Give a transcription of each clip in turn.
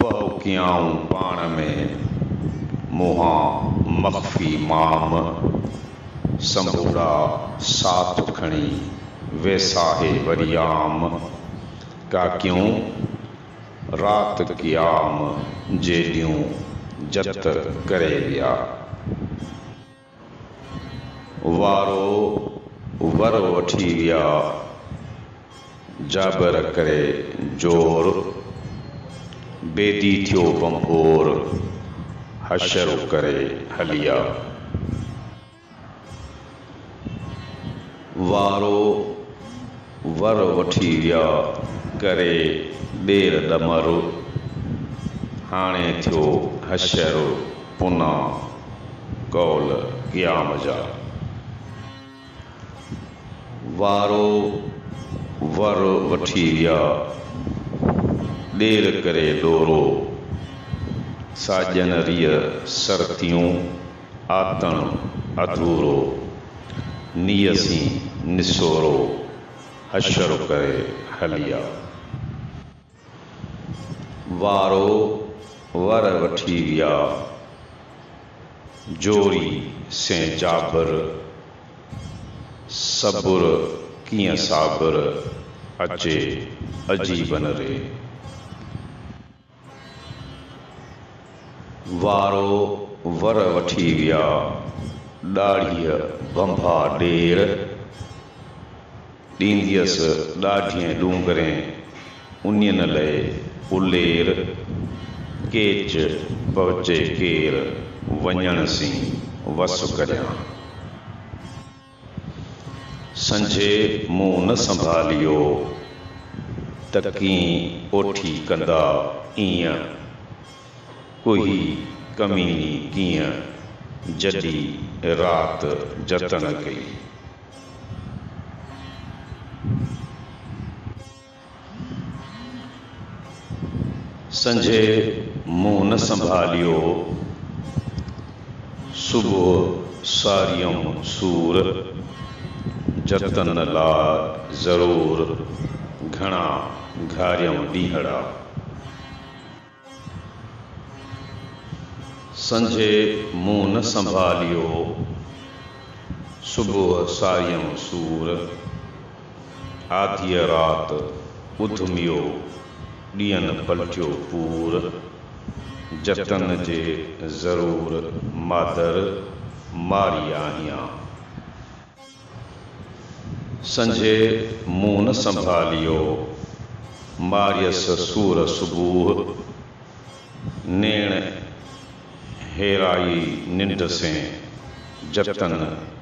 پهوڪيائون پاڻ ۾، منهان مخفي مام، سنبوڙا ساٿ کڻي، ويساهي وريام، ڪاڪيون رات قيام جيڏيون جت ڪري ويا. وارو ور وٺي ويا جابر ڪري زور بيدي ٿيو ڀنڀور حشر ڪري هليا. وارو ور وٺي ويا ڪري ڏير ڏمر هاڻي ٿيو حشر پنا قول قيام جا وارو ور وٺي ويا ڏير ڪري ڏورو ساڄن ريء سرتيون آتڻ اڌورو، نيسين نسورو، حشر ڪري هلي آ. وارو ور وٺي ويا، جوڙي سين جابر، صبر ڪيئن صابر، اچي عجيبن ري. وارو ور وٺي ويا، ڏاڙهيء ڀنڀا ڏير ڏينديس ڏاڍين ڏونگرين، انين لئي الير ڪيچ پهچي ڪير، وڃڻ سين وس ڪريان. سنجهي منهن نه سنڀاليو ته ڪين اوٺي ڪندا ايئن ڪوهي ڪميني ڪيئن جڏي رات جتن ڪئي. سنجهي منهن نه سنڀاليو، صبح ساريم سور، جتن لاء ضرور، گهڻا گهاريم ڏينهڙا. سنجهي منهن نه سنڀاليو، صبح ساريون سور، آڌيء رات اڌميو، ڏينهن پلٽيو پور، جتن جي ضرور مادر ماري آهيان. سنجهي مون نه سنڀاليو، ماريس سور صبوح، نيڻ هيرائي ننڊ سين، جتن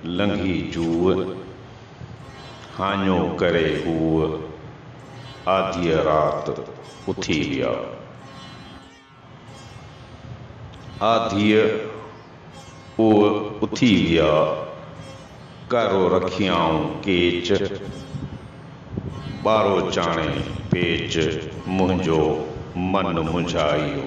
لنگهي جوء، هاڃو ڪري هوء، آڌيء رات اٿي ويا. آ ڌيء اوء اٿي ويا، ڪارو رکيائون ڪيچ، ٻارو چاڻي پيچ، منهنجو من منجهائيو.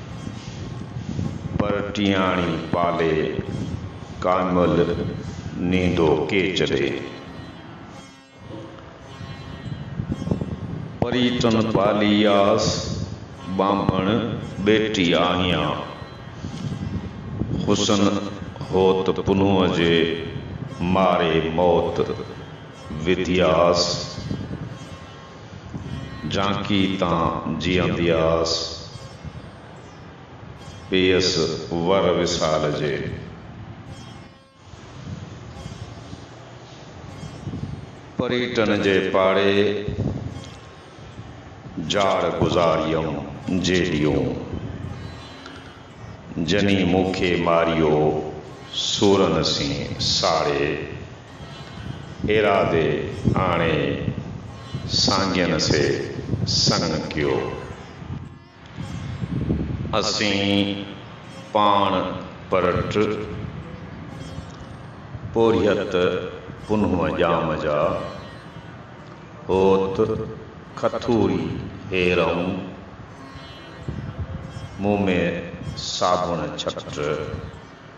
پر ٽيهاڻي پالي، ڪامل نيندو ڪيچ ڏي. پريٽن پالي آس، ٻانڀڻ ٻيٽي آهيان. حسن هوت پنهونء جي، ماري موت وڌي آس. جانڪي تان جيئندي آس، پيس ور وصال جي. پريٽن جي پاڙي، جاڙ گذاريم جيڏيون. جني مونکي ماريو، سورن سين ساڙي. ايراضي آڻي سانگين سي سڱ ڪيو. اسين پاڻ پرٽ پورهيت پنهون ڄام جا، هوت کٿوري هيرئون مون ۾ ساڀڻ ڇٽ.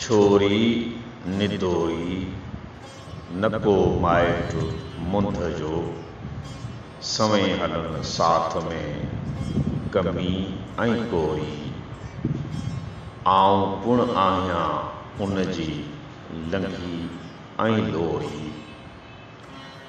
ڇوري ندوئي، نه ڪو مائٽ منڌ جو، سوين هلن ساٿ ۾، ڪمي ۽ ڪوري. آئون پڻ آهيان ان جي لنگهي ۽ لوري.